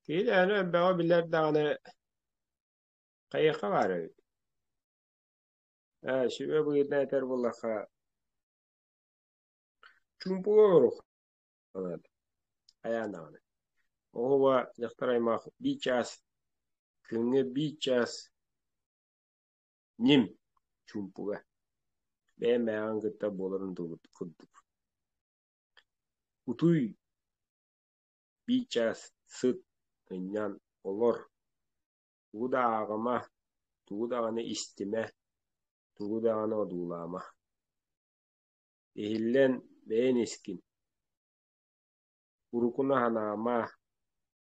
Киһи дэһэни өйбөҕө билэр даҕаны, хайыахха баар эбит. Ээ, сүбэ быһыытынан этэр буоллахха, чуумпуга оруох санаата хайаан даҕаны. Оҕуба дьахтар аймах биир чаас, күҥҥэ биир чаас ньим чуумпуга. Бэйэм бэйэҕин кытта буоларын дылбыт курдук. Утуй Миичэ сыт гынньан олор, тугу да ааҕыма, тугу даҕаны истимэ, тугу даҕаны одуулаама Иһиллэн бэйэн искин, урукуну санаама,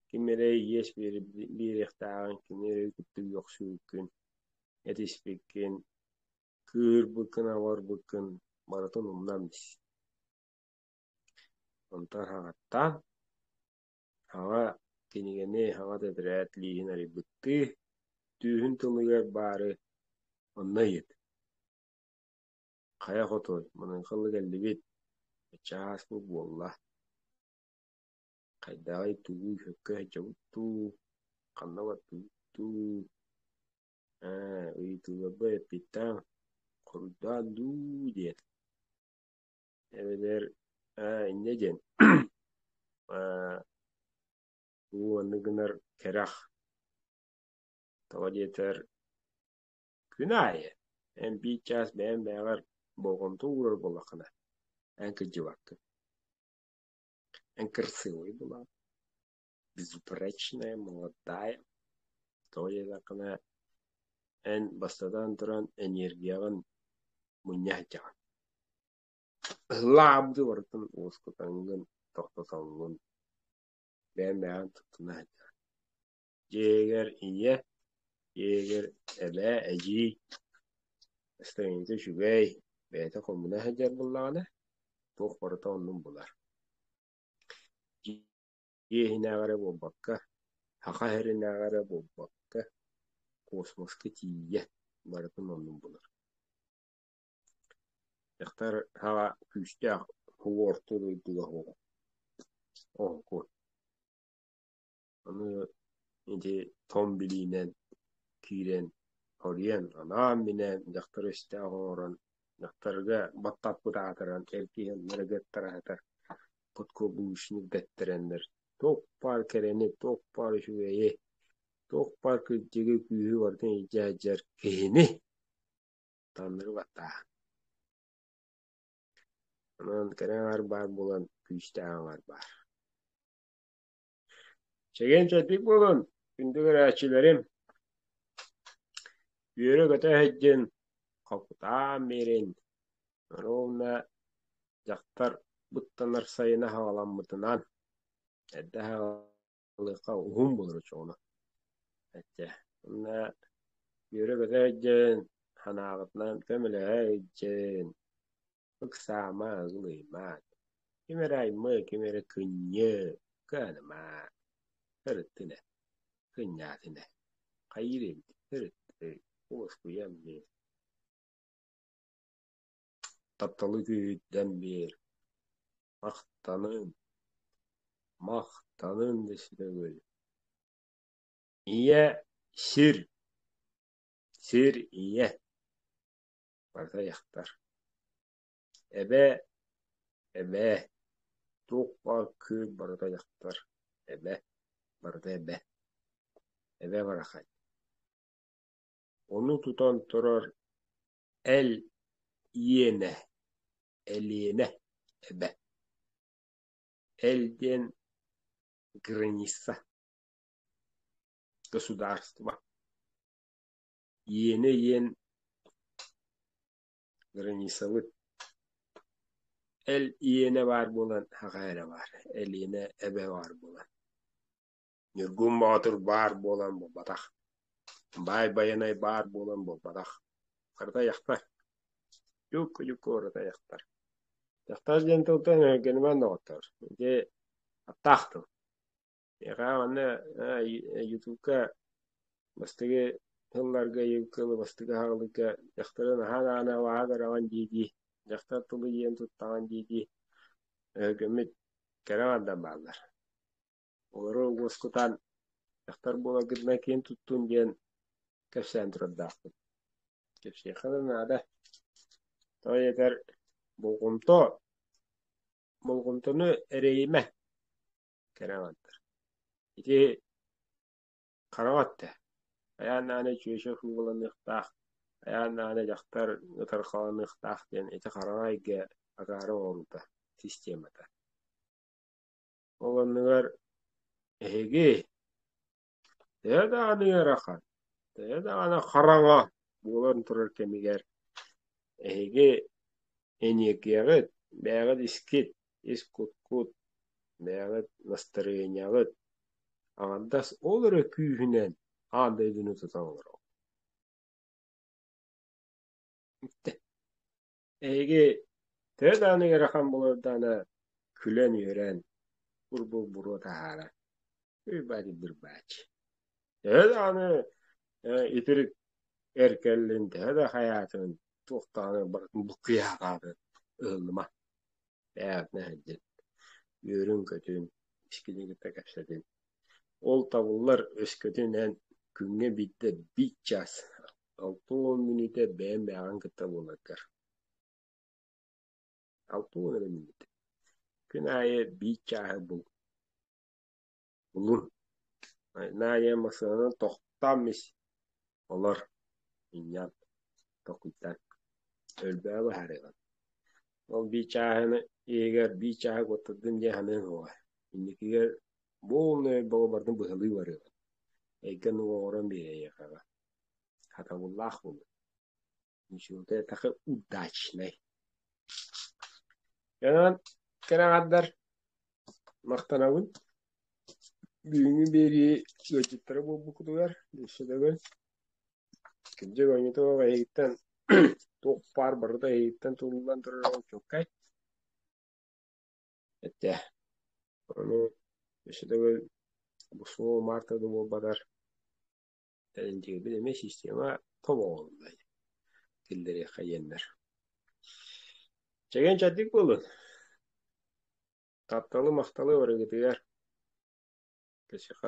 ким эрэ иэс биэриэхтээҕин, кини эрэ кытта үөхсүүргүн, этиспиккин, кыыһырбыккын-абарбыккын барытын умнан ис Онтон хаҥаттаан, аҕа кинигэни, аҕа тэтэрээт лииһин арыйбыттыы, түөһүн тылыгар баары онно ыйыт. Хайа хотуой, маныҥхалыы кэллибит, чаас бу буолла. Хайдааҕый туу, сөпкө дуу, ханна бардыгыттыы, ээ, ыйытыыларбын эппиттээҥ, хоруйдаан дуу диэт Эбэтэр аа инньэ диэн аа уу оннук гынар кэрэх тоҕо диэтэр күн аайы эн биир чаас бэйэм бэйэҕэр болҕомто уурар буоллаххына эн кырдьыбаккын эн кырсыабай булаҕын Безупречная молодая тоойуолаххына эн бастатан туран эниэргийэҕин мунньа сылдьаҕын лаабдыы барытын уоскутаҥҥын тохтотоҥҥун бэйэн-бэйэҕин туттуна сылдьаҕын дьиэгэр ийэ дьиэгэр эбээ эдьиий истиҥҥитэ үчүгэй бэйэтэ хомуна сылдьар буоллаҕына туох барыта оннун булар иэһинээҕи эрэ буолбакка, саха иһэринээҕи эрэ буолбакка, космоска тиийэ барытын оннун булар Дьахтар саҕа күүстээх флуортуу дойдуга суох оһуокуй. Аны ити тоҥ билиинэн киирэн, хоруйан, анаан минээн дьахтар өстөөх оҥорон, дьахтарга баттаппыт аатыран, эргийэн ырыгыттара сытар подкоблучник бэттэрэннэр туох баар кэрэни, туох баар үчүгэйи, туох баар кырдьыгы күүһү барытын илдьэ сылдьар киһини таҥнары баттаа. Онон кэрэ аҥар баар буолан күүстээх аҥар баар. Чэгиэн-чэбдик буолун, күндү көрөөччүлэрим! Үөрэ-көтө иһирдьин, холкутаан биэрин! Ровно дьахтар быттанар сайына саҕаламмытынан эрдэ саҕалыахха уһун болор очоҕуна. Эчэ, уонна үөрэ-көтө иһирдьин, санааҕытынан көмөлөһө иһирдьин! Ыксаама, ылыймаат, ким эрэ аймыы, ким эрэ кынньыы, кыанымаа, ырыттынэ, кынньаатынэ, хайыыр инди, ырыттыы, уоскуйан биэр, тапталы күүһүрдэн биэр, махтаныҥ, махтаныҥ өсмөгүл. Ийэ, сир, сир ийэ. Аҕыйахтар. Эбээ, эбээ, туох-баар күөл барыта дьахтар, эбэ, барыта эбэ, эбэ барахай. Ону тутан турар эл иэнэ, элиэнэ, эбэ. Эл диэн граница, государство. Иэнэ иэн границабыт эл иэнэ баар буолан аҕа эрэ баар элиэнэ эбэ баар буолан Ньургун Боотур баар буолан буолбатах Баай Байанай баар буолан буолбатах харата яхтар Дьукку дьукку барыта яхтар Дьахтар диэн тылтан эһэргэнимэн доҕоттоор ити аптаах тыл Эҕээ манна Ютубка бастакы тылларга Ютуб бастакы аһаҕалыкка дьахтарын аһаан аана абааһы көрөҕүн дии-дии дьахтар тылы иэн туттаҕын дии-дии өһүгэммит кэрэ бардан бааллар. Олору уоскутан дьахтар буолагытынан киин туттун диэн кэпсээн турардаахпыт. Кэпсиэххэ да наада. Тоҕо диэтэр, болҕомто болҕомтону эрэйимэ. Кэрэ оҕонньор. Ити хараҕа өттө. Хайаан даҕаны чүөчэ сууланыахтаах, хайаан даҕаны дьахтар ытархаланыахтаах диэн ити хараҕа эйгэ акаары оҥоруута, системата. Ол оннугар эһиги Төһө даҕаны ыарахан, төһө даҕаны хараҥа буолан турар кэмигэр, эһиги эниэкиэҕит, бэйэҕит искит, ис кут-кут, бэйэҕит настарыанньаҕыт, аҥардас ол эрэ күүһүнэн аан дойдуну тута олороҕут. Эһиги төһө даҕаны ыарахан буолардаҕына, күлэн-үөрэн, урбулбуру таһааран, «Ырбач-бырбач!» Төһө даҕаны э, итирик эр кэллин, төһө да хайаатын, туох даҕаны барытын буккуйа хааларын ыһыллыма. Эһэтинэ иһэрдин, үөрүн-көтүн, ичкилигитэ кэпсэтин. Ол табыллар өскөтүн эн күҥҥэ биирдэ биир чаас, алта уон мүнүүтэ бэйэм бэйэҕин кытта буоларгар. Алта уон эрэ мүнүүтэ. Күн аайы биир чааһы бул. Булур Найя массыынанан тохтоон ис олор минньэн толкуйдаан өлбөҕө быһаарыаҕыҥ ол бии чааһыны иһигэр бии чааһа куоттардын диэн саныаҥ уоҕа инникигэр бу умнай бөҕө барытын быһалыы барыаҕыҥ эйгэн уоҕуран биэриэҕиэҕэ хатабыллаах буолуо Ничего-то такой удачный. Кэнэн кэрэҕэрдэр махтанабын бүгүҥҥү биэрии ыалдьыттара буолбуккутугар дьиссэтэгүн кырдьык оонньото эйигиттэн туох баар барыта эйигиттэн тулуллан турара учуоккай этэ ону дьиссэтэгүл бу суол марта да буолбатар Эн дьиэбин эмиэ система тобоҕолунай киллэриэххэ диэннэр. Чэгиэн чэддик буолун. Тапталы махталы барыгытыгар кэсиэхэ